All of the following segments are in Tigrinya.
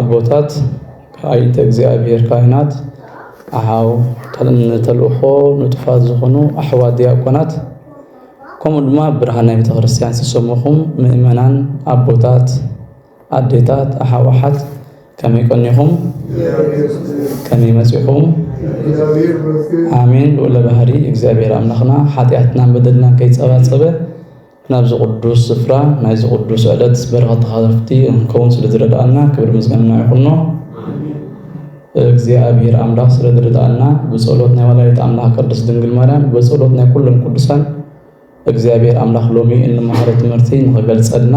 ኣቦታት ኣይንተ እግዚኣብሔር ካህናት ኣኃው ተልእኮ ንጡፋት ዝኾኑ ኣሕዋት ዲያቆናት ከምኡ ድማ ብርሃነ ቤተ ክርስቲያን ዝተሰመኹም ምእመናን ኣቦታት ኣዴታት ኣኃው ኣሓት ከመይ ቀኒኹም ከመይ መጺኹም ኣሜን ልዑለ ባህሪ እግዚኣብሔር ኣምላኽና ሓጢኣትናን በደልናን ከይጸባጸበ ናብዚ ቅዱስ ስፍራ ናይዚ ቅዱስ ዕለት በረኸት ተኻተልቲ እንከውን ስለ ዝረድኣና ክብሪ ምስጋና ይኹኖ። እግዚኣብሔር ኣምላኽ ስለ ዝረድኣና ብጸሎት ናይ ወላዲት ኣምላኽ ቅድስት ድንግል ማርያም ብጸሎት ናይ ኩሎም ቅዱሳን እግዚኣብሔር ኣምላኽ ሎሚ እንመሃሮ ትምህርቲ ንኸገልጸልና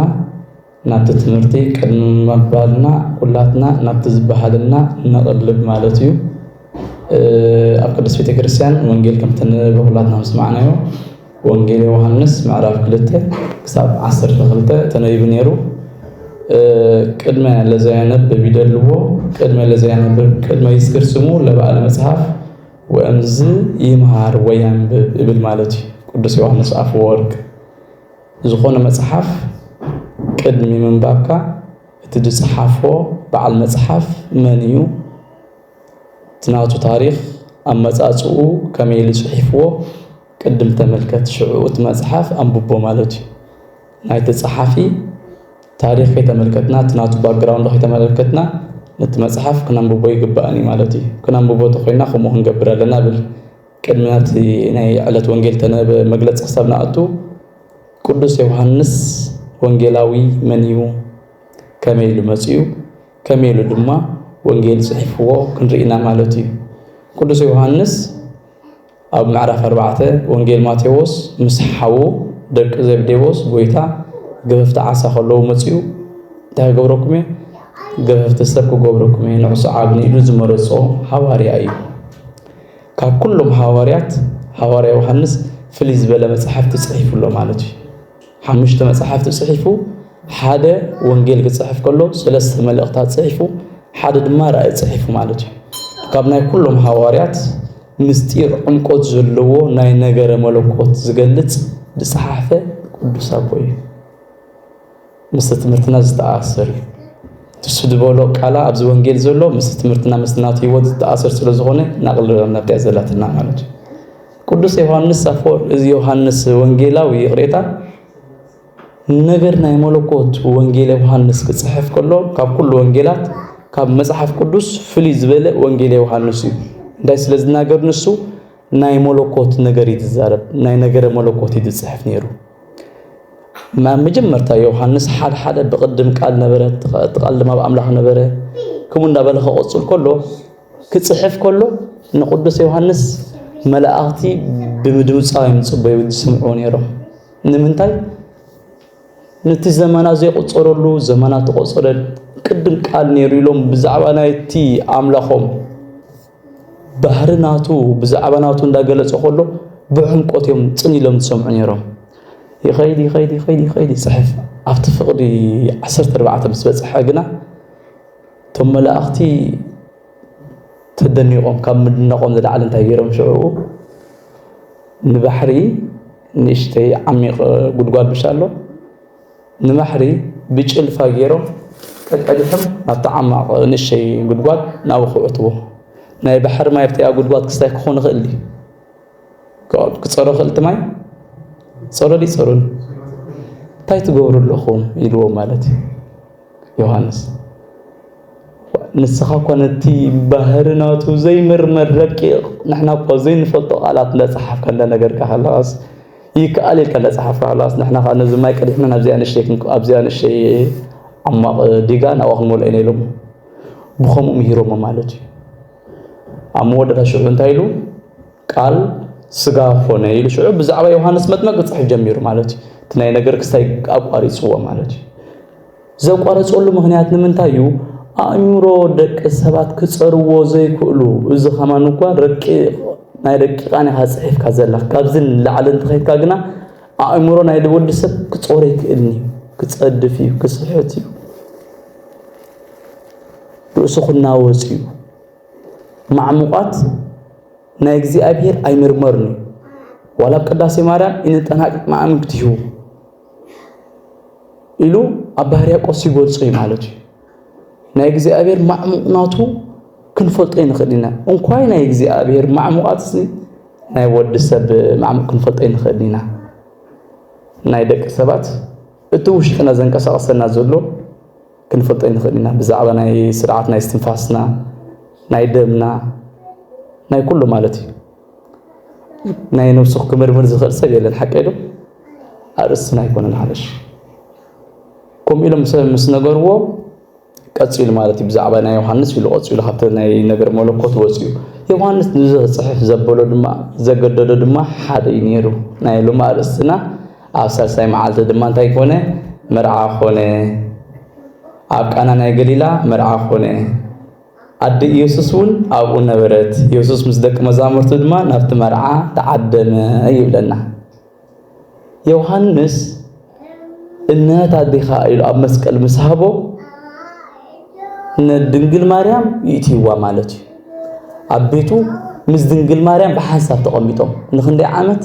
ናብቲ ትምህርቲ ቅድሚ ምባልና ኩላትና ናብቲ ዝበሃለልና ነቕልብ ማለት እዩ። ኣብ ቅድስት ቤተ ክርስቲያን ወንጌል ከም እተነበበ ኩላትና ምስ ሰማዕናዮ ወንጌል ዮሃንስ ምዕራፍ ክልተ ክሳብ ዓሰርተ ክልተ ተነቢቡ ነይሩ። ቅድመ ለዘያነብብ ይደልዎ ቅድመ ለዘያነብብ ቅድመ ይስክር ስሙ ለበዓለ መጽሐፍ ወእምዝ ይምሃር ወያንብብ እብል ማለት እዩ ቅዱስ ዮሐንስ አፈወርቅ ዝኾነ መጽሓፍ ቅድሚ ምንባብካ እቲ ዝጸሓፎ በዓል መጽሓፍ መን እዩ፣ እቲ ናቱ ታሪኽ ኣመጻጽኡ ከመይ ኢሉ ጽሒፍዎ ቅድም ተመልከት ሽዕኡ እቲ መጽሓፍ ኣንብቦ ማለት እዩ። ናይቲ ጸሓፊ ታሪኽ ከይተመልከትና እቲ ናቱ ባክግራውንድ ከይተመለከትና ነቲ መጽሓፍ ክነንብቦ ኣይግባእን እዩ ማለት እዩ። ክነንብቦ ተኾይና ከምኡ ክንገብር ኣለና እብል። ቅድሚ ናብቲ ናይ ዕለት ወንጌል ተነበ መግለጺ ክሳብ ንኣቱ፣ ቅዱስ ዮሃንስ ወንጌላዊ መን እዩ? ከመይ ኢሉ መጺኡ? ከመይ ኢሉ ድማ ወንጌል ጽሒፍዎ ክንርኢ ኢና ማለት እዩ። ቅዱስ ዮሃንስ ኣብ ምዕራፍ ኣርባዕተ ወንጌል ማቴዎስ ምስ ሓዉ ደቂ ዘብዴዎስ ጎይታ ገፈፍቲ ዓሳ ከለዉ መጺኡ እንታይ ክገብረኩም እየ? ገፈፍቲ ሰብ ክገብረኩም እየ ንዑ ሰዓብኒ ኢሉ ዝመረጾ ሃዋርያ እዩ። ካብ ኩሎም ሃዋርያት ሃዋርያ ዮሃንስ ፍልይ ዝበለ መጻሕፍቲ ጽሒፉ ኣሎ ማለት እዩ። ሓሙሽተ መጻሕፍቲ ጽሒፉ፣ ሓደ ወንጌል ክጽሕፍ ከሎ፣ ሰለስተ መልእኽታት ጽሒፉ፣ ሓደ ድማ ራእይ ጽሒፉ ማለት እዩ። ካብ ናይ ኩሎም ሃዋርያት ምስጢር ዕምቆት ዘለዎ ናይ ነገረ መለኮት ዝገልጽ ዝጸሓፈ ቅዱስ ኣቦ እዩ። ምስቲ ትምህርትና ዝተኣሳሰር እዩ። ንሱ ዝበሎ ቃላ ኣብዚ ወንጌል ዘሎ ምስቲ ትምህርትና ምስ ናቱ ህይወት ዝተኣሰር ስለ ዝኾነ ናቕልለናካ እያ ዘላትና ማለት እዩ። ቅዱስ ዮሐንስ አፈወርቅ እዚ ዮሐንስ ወንጌላዊ ይቕሬታ ነገር ናይ መለኮት ወንጌል ዮሐንስ ክጽሕፍ ከሎ ካብ ኩሉ ወንጌላት ካብ መጽሓፍ ቅዱስ ፍልይ ዝበለ ወንጌል ዮሐንስ እዩ። እንታይ ስለ ዝናገር ንሱ ናይ መለኮት ነገር እዩ ዝዛረብ፣ ናይ ነገረ መለኮት እዩ ዝጽሕፍ ነይሩ። መጀመርታ ዮሃንስ ሓደ ሓደ ብቅድም ቃል ነበረ እቲ ቃል ድማ ብኣምላኽ ነበረ ከምኡ እንዳበለ ከቆጽል ከሎ ክጽሕፍ ከሎ ንቅዱስ ዮሃንስ መላእኽቲ ብምድምጻው እዮም ዝጽበዩ ዝስምዑ ነይሮም ንምንታይ ነቲ ዘመና ዘይቆጸረሉ ዘመና ተቆጸረ ቅድም ቃል ነይሩ ኢሎም ብዛዕባ ናይቲ ኣምላኾም ባህሪ ናቱ ብዛዕባ ናቱ እንዳገለጸ ከሎ ብዕምቆት እዮም ጽን ኢሎም ዝሰምዑ ነይሮም። ይኸይድ ይኸይድ ይኸይድ ይኸይድ ይጽሕፍ ኣብቲ ፍቕዲ ዓሰርተ ኣርባዕተ ምስ በጽሐ ግና እቶም መላእኽቲ ተደኒቖም ካብ ምድነቖም ዝለዓለ እንታይ ገይሮም ሽዕኡ ንባሕሪ ንእሽተይ ዓሚቕ ጉድጓድ ብሻ ኣሎ ንባሕሪ ብጭልፋ ገይሮም ቀቀድሖም ናብቲ ዓማቕ ንእሸይ ጉድጓድ ናብኡ ክውዕትዎ ናይ ባሕሪ ማይ ኣብቲኣ ጉድጓድ ክስታይ ክኾን ይኽእል እዩ ክፀሮ ክእል እቲ ማይ ፀሮ ዲ ፀሩን እንታይ ትገብሩ ኣለኹም ኢልዎ ማለት እዩ ዮሃንስ ንስኻ እኳ ነቲ ባህሪ ናቱ ዘይምርመር ረቂቕ ንሕና እኳ ዘይንፈልጦ ቃላት እንዳፀሓፍካ እንዳነገርካ ከለኻስ ይከኣል ኢልካ ተጻሓፍ ካላስ ንሕና ከኣ ነዚ ማይ ቀዲሕና ናብዚኣ ንእሽተይ ኣብዚኣ ንእሽተይ ዓሟቕ ዲጋ ናብኣ ክንመልኦ ኢና ኢሎሞ ብኸምኡ ምሂሮሞ ማለት እዩ ኣብ መወዳእታ ሽዑ እንታይ ኢሉ ቃል ስጋ ኮነ ኢሉ ሽዑ ብዛዕባ ዮሃንስ መጥመቅ ክጽሕፍ ጀሚሩ ማለት እዩ እቲ ናይ ነገር ክስታይ ኣቋሪጽዎ ማለት እዩ ዘቋረጸሉ ምኽንያት ንምንታይ እዩ? ኣእምሮ ደቂ ሰባት ክጸርዎ ዘይክእሉ እዚ ከማን እኳ ረቂቕ ናይ ረቂቓን ኢኻ ጽሒፍካ ዘለኽ ካብዚ ንላዕሊ እንተኸይድካ ግና ኣእምሮ ናይ ወዲ ሰብ ክጾር ኣይክእልን እዩ ክጸድፍ እዩ ክስሕት እዩ ርእሱ ክናወጽ እዩ ማዕሙቓት ናይ እግዚኣብሔር ኣይምርመርን እዩ ዋላ ኣብ ቅዳሴ ማርያም ኢንጠናቅቅ ማዕምግት እዩ ኢሉ ኣብ ባህር ያቆስ ይገልጾ እዩ ማለት እዩ ናይ እግዚኣብሔር ማዕሙቕናቱ ክንፈልጦ ይንኽእል ኢና እንኳይ ናይ እግዚኣብሔር ማዕሙቓት ናይ ወዲ ሰብ ማዕሙቕ ክንፈልጦ ይንኽእል ኢና ናይ ደቂ ሰባት እቲ ውሽጥና ዘንቀሳቐሰና ዘሎ ክንፈልጦ ይንኽእል ኢና ብዛዕባ ናይ ስርዓት ናይ ስትንፋስና ናይ ደምና ናይ ኩሉ ማለት እዩ ናይ ነብሱ ክምርምር ዝኽእል ሰብ የለን ሓቀ ዶ ኣርእስትና ኣይኮነን ሓለሽ ከምኡ ኢሎም ሰብ ምስ ነገርዎ ቀፂሉ ማለት እዩ ብዛዕባ ናይ ዮሃንስ ኢሉ ቀፂሉ ካብቲ ናይ ነገር መለኮት ወፅኡ ዮሃንስ ንዚ ክፅሕፍ ዘበሎ ድማ ዘገደዶ ድማ ሓደ እዩ ነይሩ ናይ ሎሚ ኣርእስትና ኣብ ሳልሳይ መዓልቲ ድማ እንታይ ኮነ መርዓ ኮነ ኣብ ቃና ናይ ገሊላ መርዓ ኮነ ኣደ ኢየሱስ እውን ኣብኡ ነበረት፣ ኢየሱስ ምስ ደቂ መዛሙርቱ ድማ ናብቲ መርዓ ተዓደመ ይብለና። ዮሐንስ እነህት ኣዴኻ ኢሉ ኣብ መስቀል ምስ ሃቦ ንድንግል ማርያም ይእትይዋ ማለት እዩ። ኣብ ቤቱ ምስ ድንግል ማርያም ብሓንሳብ ተቐሚጦም ንክንደይ ዓመት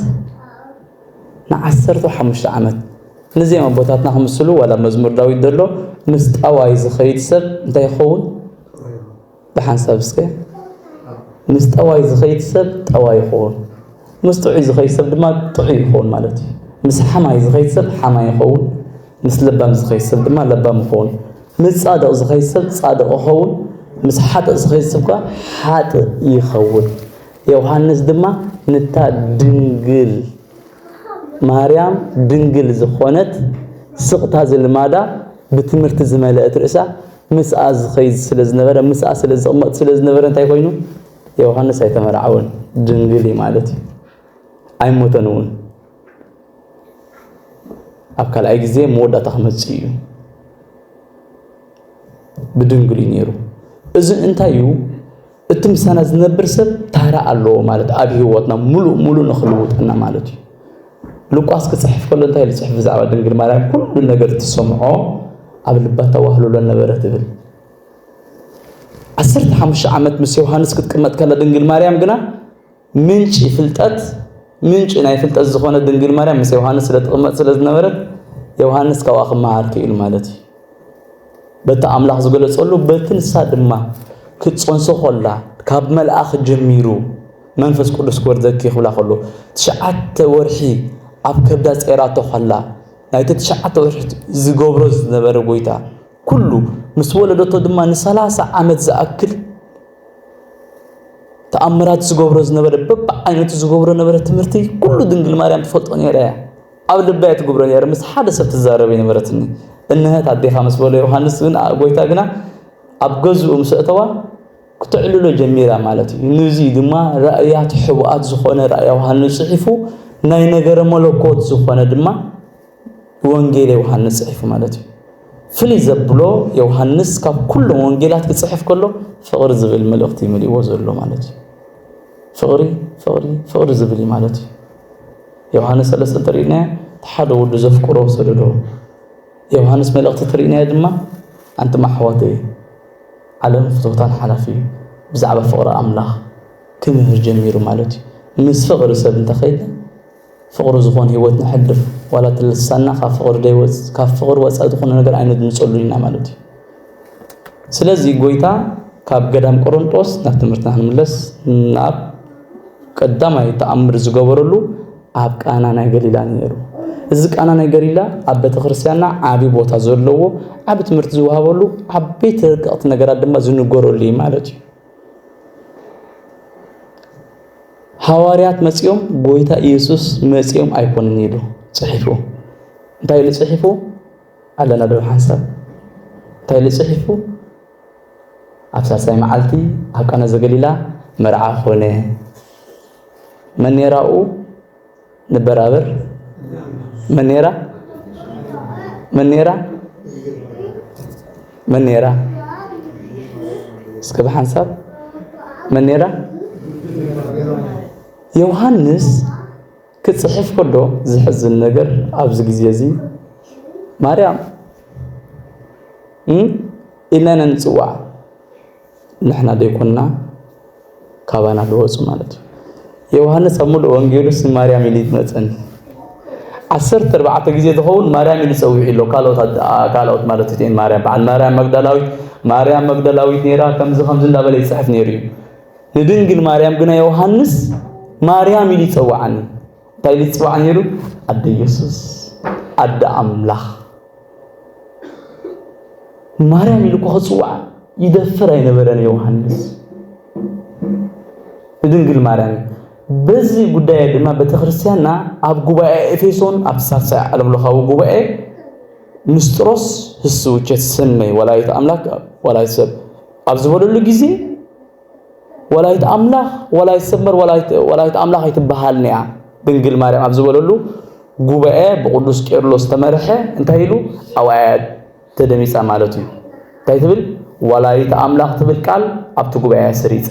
ንዓሰርተው ሓሙሽተ ዓመት ንዚም ኣቦታትና ክምስሉ ዋላ መዝሙር ዳዊት ደሎ ምስ ጠዋይ ዝኸይድ ሰብ እንታይ ይኸውን ብሓንሳብ እስከ ምስ ጠዋይ ዝኸይድ ሰብ ጠዋይ ይኸውን ምስ ጥዑይ ዝኸይድ ሰብ ድማ ጥዑይ ይኸውን ማለት እዩ ምስ ሓማይ ዝኸይድ ሰብ ሓማይ ይኸውን ምስ ለባም ዝኸይድ ሰብ ድማ ለባም ይኸውን ምስ ጻድቕ ዝኸይድ ሰብ ጻድቕ ይኸውን ምስ ሓጥእ ዝኸይድ ሰብ ከዓ ሓጥእ ይኸውን ዮሃንስ ድማ ንታ ድንግል ማርያም ድንግል ዝኾነት ስቕታ ዝልማዳ ብትምህርቲ ዝመለእት ርእሳ ምስኣ ዝኸይድ ስለ ዝነበረ ምስኣ ስለ ዝቕመጥ ስለ ዝነበረ እንታይ ኮይኑ ዮሃንስ ኣይተመርዓወን ድንግል እዩ ማለት እዩ ኣይሞተን እውን ኣብ ካልኣይ ግዜ መወዳእታ ክመፅእ እዩ ብድንግል እዩ ነይሩ እዚ እንታይ እዩ እቲ ምሳና ዝነብር ሰብ ታራ ኣለዎ ማለት ኣብ ህይወትና ሙሉእ ሙሉእ ንኽልውጠና ማለት እዩ። ሉቃስ ክጽሕፍ ከሎ እንታይ ዝጽሕፍ ብዛዕባ ድንግል ማርያም ኩሉ ነገር ትሰምዖ ኣብ ልባ ተዋህልሎ ነበረ ትብል። ዓሰርተ ሓሙሽተ ዓመት ምስ ዮሃንስ ክትቅመጥ ከላ ድንግል ማርያም ግና ምንጪ ፍልጠት ምንጪ ናይ ፍልጠት ዝኾነት ድንግል ማርያም ምስ ዮሃንስ ስለ ትቕመጥ ስለ ዝነበረት ዮሃንስ ካብኣ ክመሃር ክኢሉ ማለት እዩ በቲ ኣምላኽ ዝገለጸሉ በቲ ንሳ ድማ ክትጸንሶ ኮላ ካብ መልኣኽ ጀሚሩ መንፈስ ቅዱስ ክወርደኪ ክብላ ከሎ ትሽዓተ ወርሒ ኣብ ከብዳ ጸይራቶ ከላ ናይቲ ትሽዓተ ወርሒ ዝገብሮ ዝነበረ ጎይታ ኩሉ ምስ ወለደቶ ድማ ንሰላሳ ዓመት ዝኣክል ተኣምራት ዝገብሮ ዝነበረ በብዓይነቱ ዝገብሮ ነበረ ትምህርቲ ኩሉ ድንግል ማርያም ትፈልጦ ነይራ እያ ኣብ ልባ እያ ትገብሮ ነይረ ምስ ሓደ ሰብ ትዛረብ ይነበረትኒ እንሀት ኣዴኻ ምስ በሎ ዮሃንስ ግን ጎይታ ግና ኣብ ገዝኡ ምስ እተዋ ክተዕልሎ ጀሚራ ማለት እዩ ንዚ ድማ ራእያት ሕቡኣት ዝኾነ ራእያ ዮሃንስ ጽሒፉ ናይ ነገረ መለኮት ዝኾነ ድማ ወንጌል ዮውሃንስ ጽሒፉ ማለት እዩ። ፍልይ ዘብሎ ዮውሃንስ ካብ ኩሎም ወንጌላት ክጽሕፍ ከሎ ፍቕሪ ዝብል መልእኽቲ መሊእዎ ዘሎ ማለት እዩ። ፍቕሪ ፍቕሪ ፍቕሪ ዝብል እዩ ማለት እዩ። ዮውሃንስ ሰለስተ እንተሪእናዮ እቲ ሓደ ወዱ ዘፍቅሮ ሰደዶ ዮውሃንስ መልእኽቲ እተሪእናዮ ድማ ኣንቲ ማሕዋተይ ዓለም ፍትወታን ሓላፊ እዩ ብዛዕባ ፍቕሪ ኣምላኽ ክምህር ጀሚሩ ማለት እዩ። ምስ ፍቕሪ ሰብ እንተኸይድና ፍቅሪ ዝኮን ሂወት ነሕልፍ ዋላ እቲ ልሳንና ካብ ፍቅሪ ደይወጽ ካብ ፍቅሪ ወጻኢ ዝኮነ ነገር ኣይነድምጸሉን ኢና ማለት እዩ ስለዚ ጎይታ ካብ ገዳም ቆሮንጦስ ናብ ትምህርትና ክንምለስ ናብ ቀዳማይ ተኣምር ዝገበረሉ ኣብ ቃና ናይ ገሊላ ነይሩ እዚ ቃና ናይ ገሊላ ኣብ ቤተክርስትያንና ዓቢ ቦታ ዘለዎ ዓቢ ትምህርቲ ዝወሃበሉ ዓበይቲ ረቀቕቲ ነገራት ድማ ዝንገረሉ እዩ ማለት እዩ ሃዋርያት መጺኦም ጎይታ ኢየሱስ መጺኦም ኣይኮንን ኢሉ ጽሒፉ እንታይ ኢሉ ጽሒፉ ኣለና ዶ ሓንሳብ እንታይ ኢሉ ጽሒፉ ኣብ ሳልሳይ መዓልቲ ኣብ ቃና ዘገሊላ መርዓ ኮነ መን ነራኡ ንበራበር መን ነይራ መን ነይራ መን ነይራ እስከ ብሓንሳብ መን ነይራ ዮሃንስ ክፅሕፍ ከሎ ዝሕዝን ነገር ኣብዚ ግዜ እዚ ማርያም ኢልና ኢና ንፅዋዕ ንሕና ዘይኮንና ካባና ዝወፁ ማለት እዩ። ዮውሃንስ ኣብ ምሉእ ወንጌሉስ ንማርያም ኢሉ ይመፀን ዓሰርተ ኣርባዕተ ግዜ ዝኸውን ማርያም ኢሉ ፀዊዑ ኣሎ ካልኦት ማለት እቲኤን ማርያም በዓል ማርያም መግዳላዊት ማርያም መግዳላዊት ነይራ ከምዚ ከምዚ እንዳበለ ይፅሕፍ ነይሩ እዩ ንድንግል ማርያም ግና ዮሃንስ ማርያም ኢሉ ይፀውዓኒ እንታይ ኢሉ ይጽዋዕ ነይሩ? ኣደ የሱስ፣ ኣደ ኣምላኽ ማርያም ኢሉ እኳ ክጽዋዕ ይደፍር ኣይነበረን ዮሃንስ ንድንግል ማርያም በዚ ጉዳይ ድማ ቤተክርስትያንና ኣብ ጉባኤ ኤፌሶን ኣብ ሳልሳይ ዓለም ለኻዊ ጉባኤ ንስጥሮስ ህስውቸት ሰመይ ወላዲተ ኣምላክ ወላዲተ ሰብ ኣብ ዝበለሉ ግዜ ወላይት ኣምላኽ ወላይት ሰመር ወላይት ኣምላኽ ኣይትበሃልን እያ ድንግል ማርያም ኣብ ዝበለሉ ጉባኤ ብቅዱስ ቄርሎስ ተመርሐ እንታይ ኢሉ ኣውያት ተደሚፃ ማለት እዩ እንታይ ትብል ወላይት ኣምላኽ ትብል ቃል ኣብቲ ጉባኤ ስሪፃ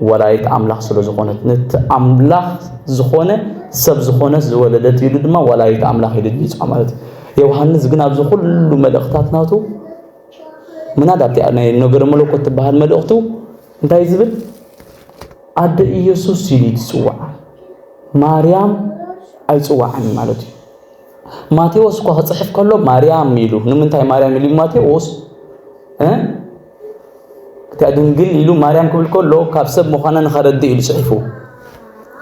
ወላይት ኣምላኽ ስለ ዝኾነት ነቲ ኣምላኽ ዝኾነ ሰብ ዝኾነት ዝወለደት ኢሉ ድማ ወላይት ኣምላኽ ኢሉ ድሚፃ ማለት እዩ ዮሃንስ ግን ኣብዚ ኩሉ መልእኽታት ናቱ ምናልባት እቲኣ ናይ ነገረ መለኮት ትበሃል መልእኽቱ እንታይ ዝብል ኣደ ኢየሱስ ኢሉ ትጽውዓ ማርያም ኣይጽዋዕን ማለት እዩ። ማቴዎስ እኳ ክጽሕፍ ከሎ ማርያም ኢሉ ንምንታይ ማርያም ኢሉ ማቴዎስ እቲኣ ድንግል ኢሉ ማርያም ክብል ከሎ ካብ ሰብ ምዃና ንኸረድእ ኢሉ ጽሒፉ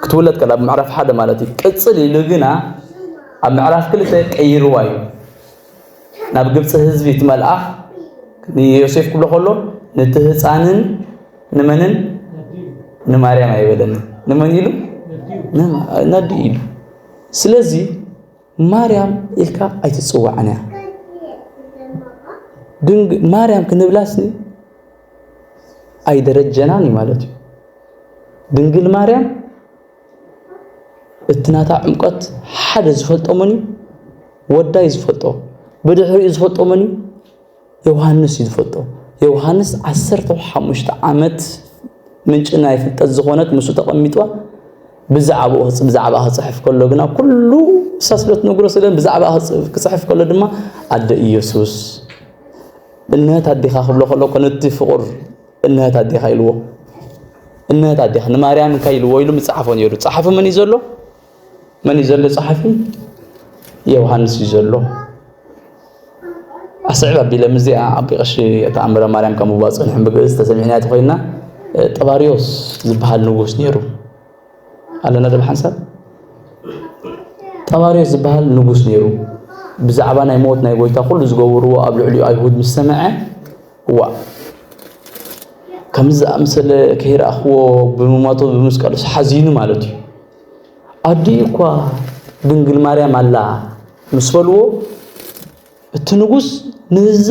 ክትውለድ ከላ ምዕራፍ ሓደ ማለት እዩ። ቅጽል ኢሉ ግና ኣብ ምዕራፍ ክልተ ቀይርዋ እዩ። ናብ ግብፂ ህዝቢ እቲ መልኣኽ ንዮሴፍ ክብሎ ከሎ ነቲ ህፃንን ንመንን ንማርያም ኣይበለና ንመን ኢሉ ነዲ ኢሉ ስለዚ ማርያም ኢልካ ኣይትፅዋዕን እያ ድንግ ማርያም ክንብላስኒ ኣይደረጀናን እዩ ማለት እዩ ድንግል ማርያም እቲ ናታ ዕምቆት ሓደ ዝፈልጦ መን እዩ? ወዳ እዩ ዝፈልጦ። ብድሕሪኡ ዝፈልጦ መን እዩ? ዮሃንስ እዩ ዝፈልጦ። ዮሃንስ ዓሰርተ ሓሙሽተ ዓመት ምንጪ ናይ ፍልጠት ዝኾነት ምስኡ ተቐሚጧ ብዛዕባኡ ብዛዕባኣ ክጽሕፍ ከሎ ግና ኩሉ ንሳ ስለ እትነግሮ ስለ ብዛዕባኣ ክጽሕፍ ከሎ ድማ ኣደ ኢየሱስ እነት ኣዴኻ ክብሎ ከሎ ኮነቲ ፍቑር እንሀት ኣዴኻ ኢልዎ እንሀት ኣዴኻ ንማርያም እንታይ ኢልዎ ኢሉ ምጽሓፎ ነይሩ ጸሓፊ መን እዩ ዘሎ መን እዩ ዘሎ ጸሓፊ ዮሃንስ እዩ ዘሎ ኣስዕብ ኣቢለ ምዚኣ ኣቢ ቀሺ ተኣምረ ማርያም ካብ ምባል ጸኒሖም ብግእዝ ተሰሚዕና ተኾይና ጠባሪዮስ ዝበሃል ንጉስ ነይሩ ኣለና ዶ ሓንሳብ ጠባርዮስ ዝበሃል ንጉስ ነይሩ ብዛዕባ ናይ ሞት ናይ ጎይታ ኩሉ ዝገብርዎ ኣብ ልዕሊኡ ኣይሁድ ምስ ሰምዐ ዋእ ከምዚ ዝኣመሰለ ከይረኣኽዎ ብምሞቱ ብምስቀሉስ ሓዚኑ ማለት እዩ ኣዲኡ እኳ ድንግል ማርያም ኣላ ምስ በልዎ እቲ ንጉስ ነዛ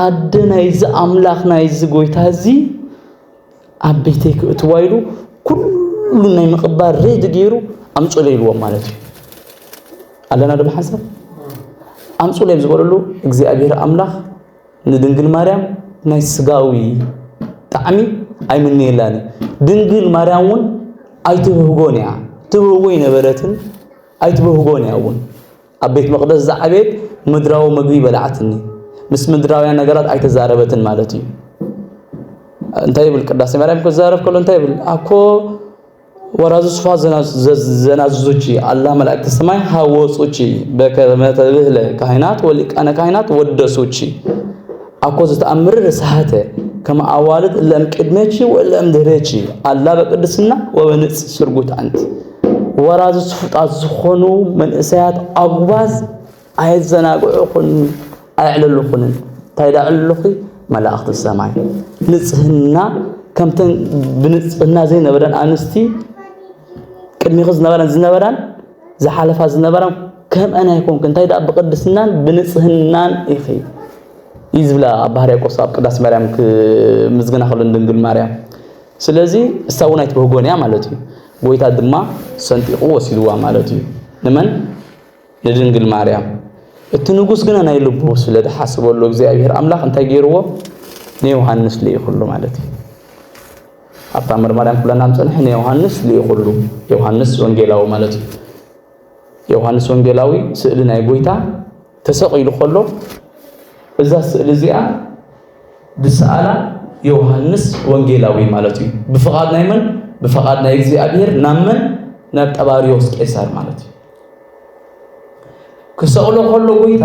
ኣደ ናይዚ ኣምላኽ ናይዚ ጎይታ እዚ ኣብ ቤተይ ክእትዋ ኢሉ ኩሉ ናይ ምቕባል ሬድ ገይሩ ኣምፁለ ኢልዎም ማለት እዩ ኣለና ዶ ሓሳብ ኣምፁለ እዮም ዝበለሉ እግዚኣብሔር ኣምላኽ ንድንግል ማርያም ናይ ስጋዊ ጣዕሚ ኣይምንየላን ድንግል ማርያም እውን ኣይትብህጎን እያ ትብህጎ ይነበረትን ኣይትብህጎን እያ እውን ኣብ ቤት መቕደስ ዝዓበየት ምድራዊ መግቢ በላዕትኒ። ምስ ምድራውያን ነገራት ኣይተዛረበትን ማለት እዩ። እንታይ ይብል ቅዳሴ ማርያም ክዛረብ ከሎ እንታይ ይብል ኣኮ ወራዙ ስፋ ዘናዝዙቺ ኣላ መላእክተ ሰማይ ሃወጹቺ በከመ ተብህለ ካህናት ወሊቃነ ካህናት ወደሱቺ ኣኮ ዝተኣምር ርሳሃተ ከመ ኣዋልድ እለ እምቅድሜቺ ወእለ እምድህሬቺ ኣላ በቅድስና ወበንጽ ስርጉት ኣንቲ ወራዚ ስፉጣት ዝኾኑ መንእሰያት ኣጉባዝ ኣየዘናግዑኹን ኣየዕልሉኹንን። እንታይ ዳ ዕልሉኺ መላእኽቲ ሰማይ ንጽህና ከምተን ብንጽህና ዘይነበረን ኣንስቲ ቅድሚኺ ዝነበረን ዝነበራን ዝሓለፋ ዝነበራን ከምአን ኣይኮንክ እንታይ ደኣ ብቅድስናን ብንጽህናን ኢኺ እዩ ዝብላ ኣብ ባህር ያቆስ ኣብ ቅዳሴ ማርያም ክምዝግና ከሎ ድንግል ማርያም ስለዚ እሳ እውን ኣይትበህጎን እያ ማለት እዩ ጎይታ ድማ ሰንጢቑ ወሲድዋ ማለት እዩ። ንመን? ንድንግል ማርያም። እቲ ንጉስ ግና ናይ ልቡ ስለ ዝሓስበሉ እግዚኣብሔር ኣምላኽ እንታይ ገይርዎ? ንዮሃንስ ልኢኹሉ ማለት እዩ። ኣብታ መርማርያም ኩለና ምጸንሐ ንዮሃንስ ልኢኹሉ፣ ዮሃንስ ወንጌላዊ ማለት እዩ። ዮሃንስ ወንጌላዊ ስእሊ ናይ ጎይታ ተሰቒሉ ከሎ እዛ ስእሊ እዚኣ ዝሰኣላ ዮሃንስ ወንጌላዊ ማለት እዩ። ብፍቓድ ናይ መን? ብፍቓድ ናይ እግዚኣብሔር ናብ መን? ናብ ጠባሪዎስ ቄሳር ማለት እዩ። ክሰቕሎ ከሎ ጎይታ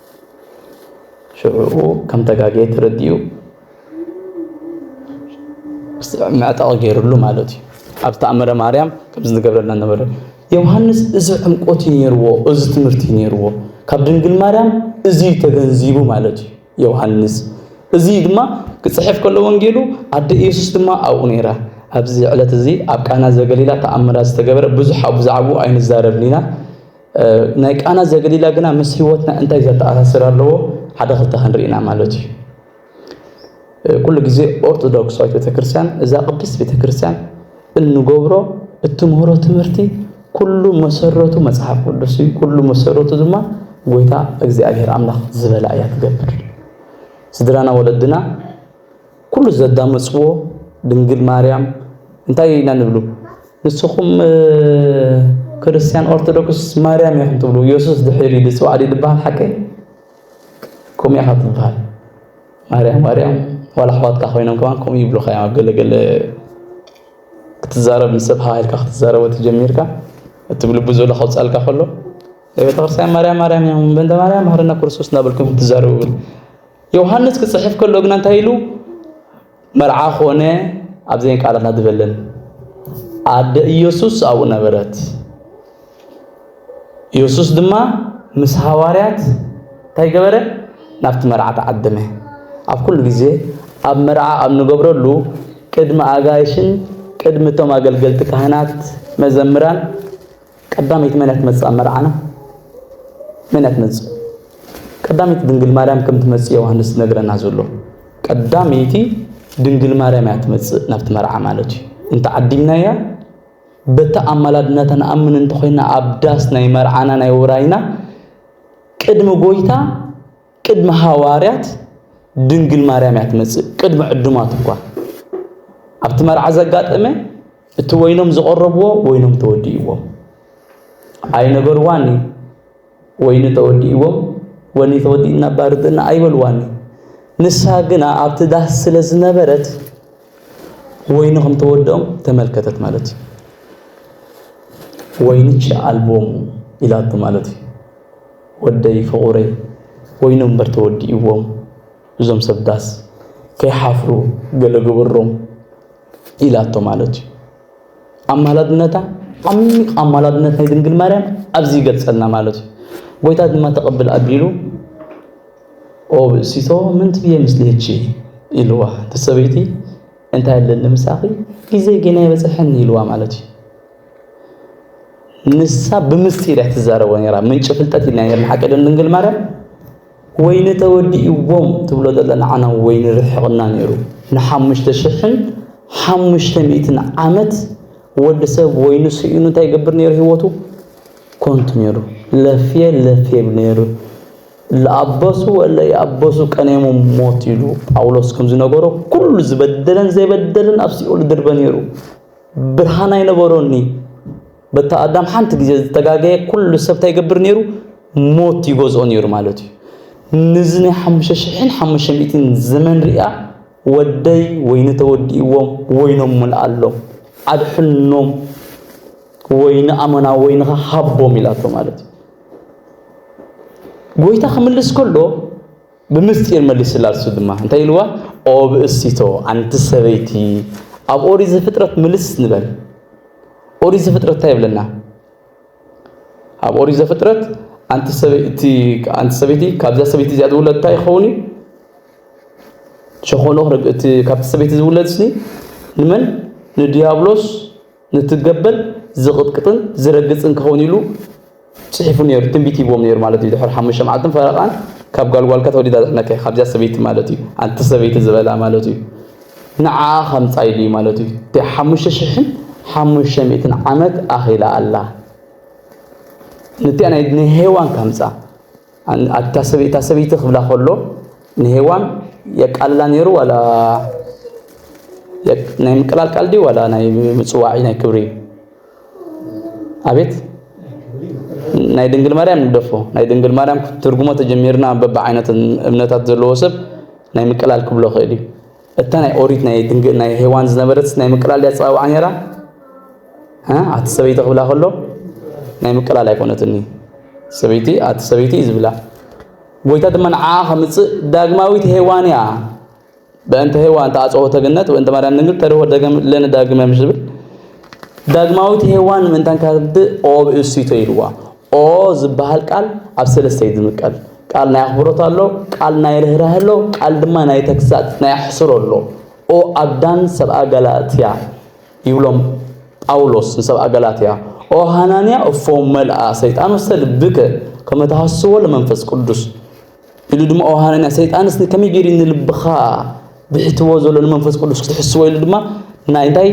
ሽዑኡ ከም ተጋገየ ተረዲኡ መዕጠቒ ገይርሉ ማለት እዩ ኣብ ተኣምረ ማርያም ከም ዝገብረልና ነበረ ዮሃንስ እዚ ዕምቆት እዩ ነይርዎ እዚ ትምህርቲ እዩ ነይርዎ ካብ ድንግል ማርያም እዚ ተገንዚቡ ማለት እዩ ዮሃንስ እዚ ድማ ክፅሕፍ ከሎ ወንጌሉ ኣደ ኢየሱስ ድማ ኣብኡ ነይራ ኣብዚ ዕለት እዚ ኣብ ቃና ዘገሊላ ተኣምራት ዝተገበረ ብዙሕ ኣብ ብዛዕባኡ ኣይንዛረብን ኢና ናይ ቃና ዘገሊላ ግና ምስ ህይወትና እንታይ ዘተኣሳስር ኣለዎ ሓደ ክልተ ክንርኢ ኢና ማለት እዩ። ኩሉ ግዜ ኦርቶዶክሳዊት ቤተክርስትያን እዛ ቅድስት ቤተክርስትያን እንገብሮ እትምህሮ ትምህርቲ ኩሉ መሰረቱ መጽሓፍ ቅዱስ እዩ። ኩሉ መሰረቱ ድማ ጎይታ እግዚኣብሔር ኣምላኽ ዝበላ እያ ትገብር። ስድራና ወለድና ኩሉ ዘዳመጽዎ ድንግል ማርያም እንታይ ኢና ንብሉ ንስኹም ክርስትያን ኦርቶዶክስ ማርያም ኢኹም ትብሉ ኢየሱስ ድሕሪ ድጽዋዕ ዲ ድበሃል ሓቀይ ከምኡ ኢኻ ትበሃል ማርያም ማርያም ዋላ ኣሕዋትካ ኮይኖም ከማን ከምኡ ይብሉኻ እዮም ኣብ ገለገለ ክትዛረብ ምስ ሰብ ሃሃልካ ክትዛረቦ ተጀሚርካ እቲ ብልቡ ዘሎ ከውፃልካ ከሎ ቤተክርስትያን ማርያም ማርያም እዮም በንተ ማርያም ባህርና ክርስቶስ እናበልኩም ትዛረቡ ብል ዮሃንስ ክጽሕፍ ከሎ ግና እንታይ ኢሉ? መርዓ ኮነ ኣብዘን ቃላት ኣድበለን ኣደ ኢየሱስ ኣብኡ ነበረት። ኢየሱስ ድማ ምስ ሃዋርያት እንታይ ገበረ? ናብቲ መርዓ ተዓደመ። ኣብ ኩሉ ግዜ ኣብ መርዓ ኣብ ንገብረሉ ቅድሚ ኣጋይሽን ቅድሚ እቶም ኣገልገልቲ ካህናት መዘምራን ቀዳመይቲ መን እያ ትመጽእ ኣብ መርዓና? መን እያ ትመጽእ? ቀዳመይቲ ድንግል ማርያም ከም ትመጽእ ዮሃንስ ዝነግረና ዘሎ ቀዳመይቲ ድንግል ማርያም እያ ትመጽእ ናብቲ መርዓ ማለት እዩ። እንተ ዓዲምናያ በቲ ኣማላድነታ ንኣምን እንተኾይና ኣብ ዳስ ናይ መርዓና ናይ ውራይና ቅድሚ ጎይታ ቅድሚ ሃዋርያት ድንግል ማርያም እያ ትመጽእ፣ ቅድሚ ዕዱማት እኳ። ኣብቲ መርዓ ዘጋጠመ እቲ ወይኖም ዝቐረብዎ ወይኖም ተወዲእዎም ኣይነበርዋኒ ወይኒ ተወዲእዎም ወኒ ተወዲእና ባርድና ኣይበልዋኒ ንሳ ግና ኣብቲ ዳስ ስለ ዝነበረት ወይኒ ከም ተወድኦም ተመልከተት ማለት እዩ ወይንች ኣልቦሙ ኢላቶ ማለት እዩ ወደይ ፍቁረይ ወይኖም እምበር ተወዲእዎም እዞም ሰብ ዳስ ከይሓፍሩ ገለ ግበሮም ኢላቶ ማለት እዩ። ኣማላድነታ ዓሚቕ ኣማላድነት ናይ ድንግል ማርያም ኣብዚ ይገልጸልና ማለት እዩ። ጎይታ ድማ ተቐብል ኣቢሉ ኦ ብእሲቶ ምን ትብዬ ምስሌኪ ኢልዋ እቲ ሰበይቲ እንታይ ኣለኒ ምሳኺ ጊዜ ጌና ኣይበጽሐን ኢልዋ ማለት እዩ። ንሳ ብምስጢር እያ ትዛረቦ ነይራ። ምንጪ ፍልጠት ኢልና ነይርና ሓቂ ዶ ድንግል ማርያም ወይኒ ተወዲእዎም ትብሎ ዘለ ንዓና ወይኒ ርሕቕና ነይሩ ንሓሙሽተ ሽሕን ሓሙሽተ ሚእትን ዓመት ወዲ ሰብ ወይኑ ስኢኑ እንታይ ይገብር ነይሩ ህይወቱ ኮንቱ ነይሩ ለፍየ ለፍየ ብ ነይሩ ለኣበሱ ወለ ይኣበሱ ቀኔሞ ሞት ኢሉ ጳውሎስ ከም ዝነገሮ ኩሉ ዝበደለን ዘይበደለን ኣብ ሲኦል ድርበ ነይሩ ብርሃን ኣይነበሮኒ በታ ኣዳም ሓንቲ ግዜ ዝተጋገየ ኩሉ ሰብ እንታይ ይገብር ነይሩ ሞት ይገዝኦ ነይሩ ማለት እዩ ንዚ ናይ ሓሙሽተ ሽሕን ሓሙሽተ ሚእትን ዘመን ሪኣ ወደይ ወይኒ ተወዲእዎም ወይኖም ሙልኣሎም ኣድሕኖም ወይኒ ኣመና ወይንኻ ሃቦም ኢላቶ ማለት እዩ ጎይታ ክምልስ ከሎ ብምስጢር መሊሱላ እሱ ድማ እንታይ ኢልዋ ኦብእሲቶ ኣንቲ ሰበይቲ ኣብ ኦሪት ዘፍጥረት ምልስ ንበል ኦሪት ዘፍጥረት እንታይ ይብለና ኣብ ኦሪት ዘፍጥረት ኣንቲ ሰበይቲ ኣንቲ ሰበይቲ ካብዛ ሰበይቲ እዚኣ ዝውለድ እንታይ ይኸውን እዩ ሸኾኖ እቲ ካብቲ ሰበይቲ ዝውለድ ስኒ ንመን ንዲያብሎስ ነቲ ገበል ዝቕጥቅጥን ዝረግጽን ክኸውን ኢሉ ጽሒፉ ነይሩ፣ ትንቢት ሂብዎም ነይሩ ማለት እዩ። ድሕሪ ሓሙሽተ መዓልትን ፈረቓን ካብ ጋል ጓልካ ተወሊዳ ዘድሕነካ እዩ፣ ካብዚኣ ሰበይቲ ማለት እዩ፣ ኣንቲ ሰበይቲ ዝበላ ማለት እዩ፣ ንዓኣ ከምጻ ኢሉ እዩ ማለት እዩ። እቲኣ ሓሙሽተ ሽሕን ሓሙሽተ ሚእትን ዓመት ኣኺላ ኣላ፣ ነቲኣ ናይ ሄዋን ከምጻ። ኣታ ሰበይ እታ ሰበይቲ ክብላ ከሎ ንሄዋን የቃልላ ነይሩ ዋላ ናይ ምቅላልቃል ድዩ ዋላ ናይ ምፅዋዒ ናይ ክብሪ እዩ ኣቤት ናይ ድንግል ማርያም ንግደፎ ናይ ድንግል ማርያም ትርጉሞ ተጀሚርና በብዓይነት እምነታት ዘለዎ ሰብ ናይ ምቅላል ክብሎ ክእል እዩ እታ ናይ ኦሪት ናይ ድንግል ናይ ሄዋን ዝነበረት ናይ ምቅላል ድያ ኣጸዋውዓ ነይራ? ኣቲ ሰበይቲ ክብላ ከሎ ናይ ምቅላል ኣይኮነትኒ ሰበይቲ ኣቲ ሰበይቲ እዩ ዝብላ ጎይታ ድማ ንዓኣ ከምጽእ ዳግማዊት ሄዋን እያ በእንተ ሄዋን ተኣጽኦ ተገነት ወእንተ ማርያም ድንግል ተርሆ ደገም ለነ ዳግመ ምስ ዝብል ዳግማዊት ሄዋን ምእንታን ካብድእ ኦብ እሱይቶ ኢልዋ ኦ ዝብሃል ቃል ኣብ ሰለስተ እዩ ዝምቀል፣ ቃል ናይ ኣኽብሮት ኣሎ፣ ቃል ናይ ርህራሀ ኣሎ፣ ቃል ድማ ናይ ተግሳጽ፣ ናይ ኣሕስሮ ኣሎ። ኦ ኣዳን ሰብኣ ገላትያ ይብሎም ጳውሎስ ንሰብኣ ገላትያ፣ ኦ ሃናንያ እፎ መልኣ ሰይጣን ውስተ ልብከ ከመ ተሃስዎ ለመንፈስ ቅዱስ ኢሉ ድማ ኦ ሃናንያ ሰይጣንስ ንከመይ ገይሩ ንልብኻ ብሒትዎ ዘሎ ንመንፈስ ቅዱስ ክትሕስዎ ኢሉ ድማ ናይ እንታይ